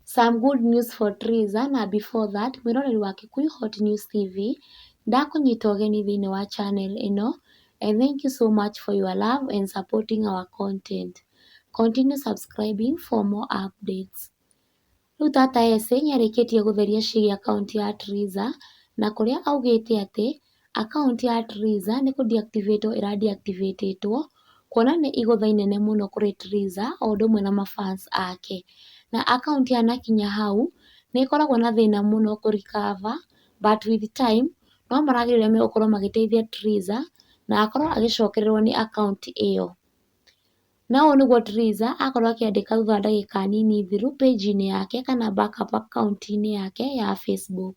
Some good news for Trizah na before that mwĩroreri wa Kikuyu Hot News TV, ndakũnyita ũgeni thĩinĩ wa channel ĩno and thank you so much for your love and supporting our content. Continue subscribing for more updates. Rĩu tata Ese nĩarĩkĩtie gũtheria ciĩgiĩ akaunti ya Trizah na kũrĩa augĩte atĩ Akaunti ya Triza nĩ kũ deactivate ĩra deactivate two, kuona nĩ igũtha inene mũno kũrĩ Triza o ũndũ ũmwe na ma fans ake. Na akaunti ya Nakinya Hau nĩ ĩkoragwo na thĩna mũno kũ recover but with time no marageria ũrĩa megũkorwo magĩteithia Triza na akorwo agĩcokererwo nĩ akaunti ĩyo. Na ũũ nĩguo Triza akorwo akĩandĩka thutha wa ndagĩka nini thiru page -inĩ yake kana back up akaunti-inĩ yake ya Facebook.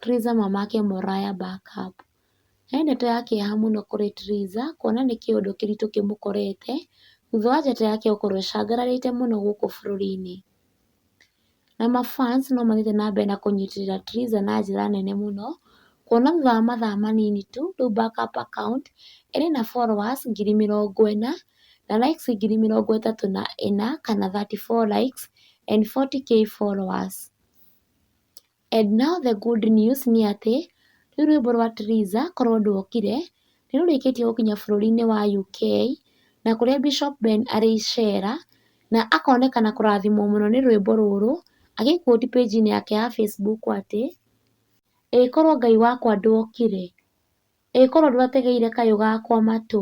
Theresa mamake Moriah Barkab. He ndeto ya kĩeha mũno kũrĩ Theresa kuona nĩ kĩũndũ kĩritũ kĩmũkorete thutha wa njata yake gũkorwo ĩcangararĩte mũno gũkũ bũrũri-inĩ. Na ma fans no mathiĩte na mbere na kũnyitĩrĩra Theresa na njĩra nene mũno kuona thutha wa mathaa manini tu rĩu Barkab account ĩrĩ na followers ngiri mĩrongo ĩna na likes ngiri mĩrongo ĩtatũ na ĩna kana thirty four likes and forty k followers. And now the good news nĩ atĩ, rũu rwĩmbo rwa Theresa korwo ndwokire, nĩ rũrĩkĩtie gũkinya bũrũri-inĩ wa UK, na kũrĩa Bishop Ben arĩ icera, na akonekana kũrathimwo mũno nĩ rwĩmbo rũrũ, agĩ quote page inĩ yake ya Facebook atĩ, Ĩĩ korwo Ngai wakwa ndwokire, ĩĩ korwo ndwategeire kayũ gakwa matũ.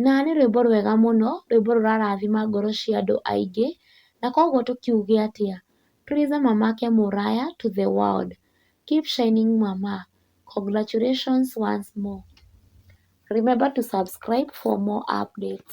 Na nĩ rwĩmbo rwega mũno, rwĩmbo rũrarathima ngoro cia andũ aingĩ, na koguo tũkiuge atĩa? Tuliza mamake Muraya to the world. Keep shining mama. Congratulations once more. Remember to subscribe for more updates.